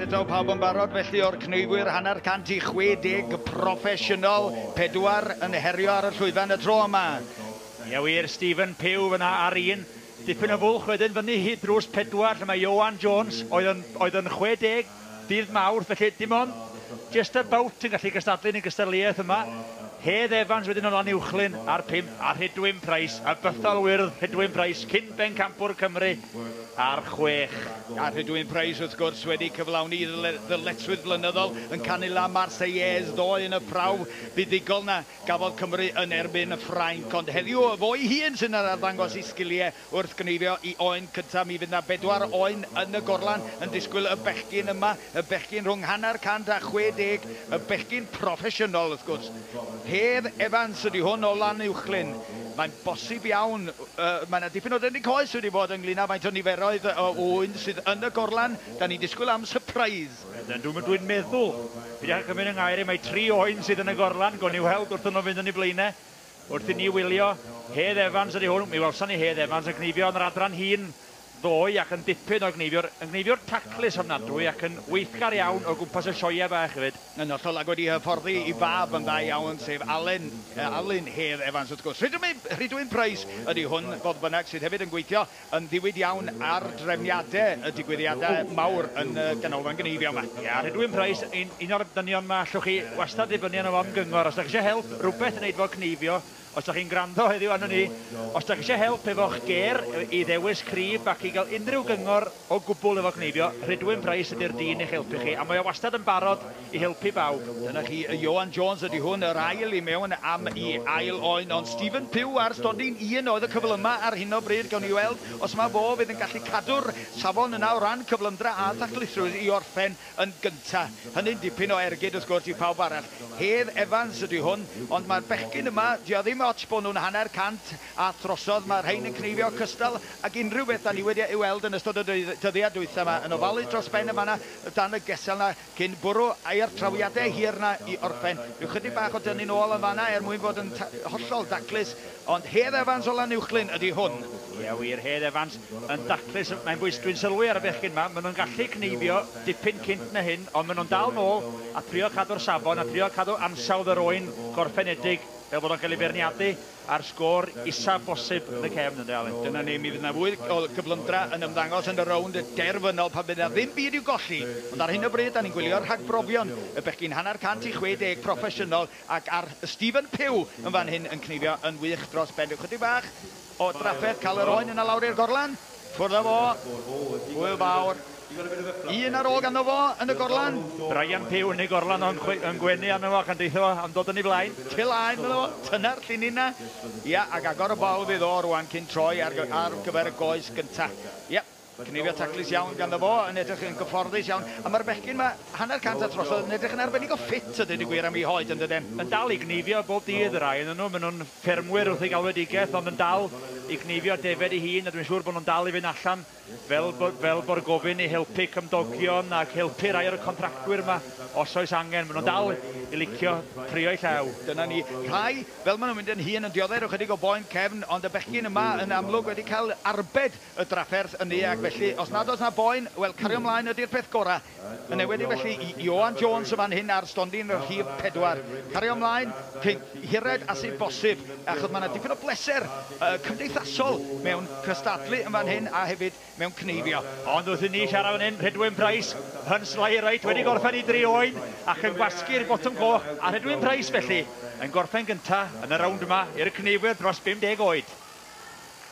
Eto pawb yn barod felly o'r cneifwyr hanner cant i 60 proffesiynol, pedwar yn herio ar y llwyfan y tro yma. Ia wir, Stephen Pugh yna ar un, dipyn o fwlch wedyn fyny hyd drws pedwar lle mae Ioan Jones oedd yn, oedd yn 60 Dydd Mawrth, felly dim ond just about yn gallu cystadlu yn y gystadleuaeth yma. Hedd Evans wedyn o Lanuwchllyn ar pump a Rhydwyn Price, y bythol wyrdd Rhydwyn Price, cyn bencampwr Cymru, ar chwech. A Rhydwyn Price wrth gwrs wedi cyflawni ei ddyletswydd flynyddol yn canu La Marseillaise ddoe yn y prawf buddugol na gafodd Cymru yn erbyn Ffrainc, ond heddiw efo'i hun sy'n arddangos ei sgiliau Wrth gneifio i oen cyntaf mi fydd 'na bedwar oen yn y gorlan yn disgwyl y bechgyn yma, y bechgyn rhwng hanner cant a chwe deg, y bechgyn proffesiynol wrth gwrs. Hedd Evans ydy hwn o Lanuwchllyn. Mae'n bosib iawn, mae 'na dipyn o dynnu coes wedi bod ynglŷn â faint o niferoedd o oen sydd yn y gorlan, 'dan ni'n disgwyl am sypreis. Ydyn, dwi'n meddwl, peidiwch â cymryd 'y ngair i, mae tri oen sydd yn y gorlan, gawn ni weld wrth i nhw fynd yn eu blaenau. Wrth i ni wylio Hedd Evans ydi hwn, mi welson ni Hedd Evans yn gneifio yn yr adran hŷn ddoe ac yn dipyn o gneifiwr, yn gneifiwr taclus ofnadwy ac yn weithgar iawn o gwmpas y sioeau bach hefyd. Yn hollol ac wedi hyfforddi i fab yn dda iawn sef Alun, Alun Hedd Evans wrth gwrs. Rhydwyn, Rhydwyn Price ydi hwn fodd bynnag sydd hefyd yn gweithio yn ddiwyd iawn ar drefniade y digwyddiada mawr yn y Ganolfan Gneifio 'ma. Ia, a Rhydwyn Price yn un o'r dynion 'ma, allwch chi wastad ddibynnu arno fo am gyngor os 'da chi isio help, rwbeth i neud efo cneifio, os 'da chi'n gwrando heddiw arnon ni, os 'da chi isio help efo'ch gêr, i ddewis crib ac i ga'l unrhyw gyngor o gwbwl efo cneifio, Rhydwyn Price ydi'r dyn i'ch helpu chi, a mae o wastad yn barod i helpu bawb. Dyna chi, Ioan Jones ydi hwn, yr ail i mewn am i ail oen, ond Stephen Pugh ar stondin un oedd y cyflymau ar hyn o bryd, gawn ni weld os mae fo fydd yn gallu cadw'r safon yna o ran cyflymdra a thaclusrwydd i orffen yn gynta'. Hynny'n dipyn o ergyd wrth gwrs i phawb arall. Hedd Evans ydi hwn, ond mae'r bechgyn yma, dio ddim ots bo nhw'n hanner cant a throsodd, mae'r rhein yn cneifio cystal ag unrhyw beth da ni wedi ei weld yn ystod y dyddiau dwytha' 'ma, yn ofalu dros ben yn fan'na dan y gesel 'na, Cyn bwrw ai'r trawiadau hir 'na i orffen, rhyw chydig bach o dynnu'n ôl yn fan'na er mwyn bod yn hollol daclus, ond Hedd Evans o Lanuwchllyn ydi hwn. Ia wir, Hedd Evans yn daclus, mae'n bwys dwi'n sylwi ar y bechgyn 'ma, ma' nhw'n gallu cneifio dipyn cynt na hyn, ond ma' nhw'n dal nôl a trio cadw'r safon a trio cadw ansawdd yr oen gorffenedig fel bod o'n cael ei feirniadu, a'r sgôr isaf bosib yn y cefn, ynde Alun? Dyna ni, mi fydd yna fwy o gyflymdra yn ymddangos yn y rownd derfynol pan fydd yna ddim byd i'w golli, ond ar hyn o bryd 'da ni'n gwylio rhagbrofion y bechgyn hanner cant i chwe deg proffesiynol ac ar Stephen Pugh yn fan hyn yn cneifio yn wych dros ben. Rhyw chydig bach o drafferth, cael yr oen yna lawr i'r gorlan. Ffwrdd â fo! Hwyl fawr! Un ar ôl ganddo fo yn y gorlan. Brian Puw yn ei gorlan o yn gwenu arno fo ac yn deutho fo am dod yn ei flaen. Tu laen iddo fo, tyna'r llinyn 'na. Ia, ac agor y bol fydd o rwan cyn troi ar ar gyfer y goes gynta. Ia, cneifio taclus iawn ganddo fo, yn edrych yn gyfforddus iawn. A ma'r bechgyn 'ma, hanner cant a throsodd, yn edrych yn arbennig o ffit a deud y gwir am 'u hoed yndyden? Yn dal i gneifio bob dydd y rhai o'nyn nhw, ma' nhw'n ffermwyr wrth eu galwedigaeth ond yn dal i gneifio defaid ei hun a dwi'n siŵr bod nhw'n dal i fynd allan fel fel bo'r gofyn i helpu cymdogion ac helpu rhai o'r contractwyr yma os oes angen. Maen nhw'n dal i licio trio'u llaw. Dyna ni. Rhai, fel maen nhw'n mynd yn hŷn, yn dioddef ychydig o boen cefn ond y bechgyn yma yn amlwg wedi cael arbed y drafferth yn eag felly os nad oes 'na boen, wel cario mlaen ydi'r peth gora'. Yn enwedig felly i Ioan Jones yn fan hyn ar stondin rhif pedwar. Cario mlaen, cyn hired a sy' bosib, achos ma' 'na dipyn o bleser cymdeithasol mewn cystadlu yn fan hyn a hefyd mewn cneifio. Ond wrth i ni siarad fan hyn, Rhedwyn Price, Huns Lie Right wedi gorffen i dri oen ac yn gwasgu'r botwm coch a Rhedwyn Price felly yn gorffen gynta' yn y rownd yma i'r cneifwyr dros 50 oed.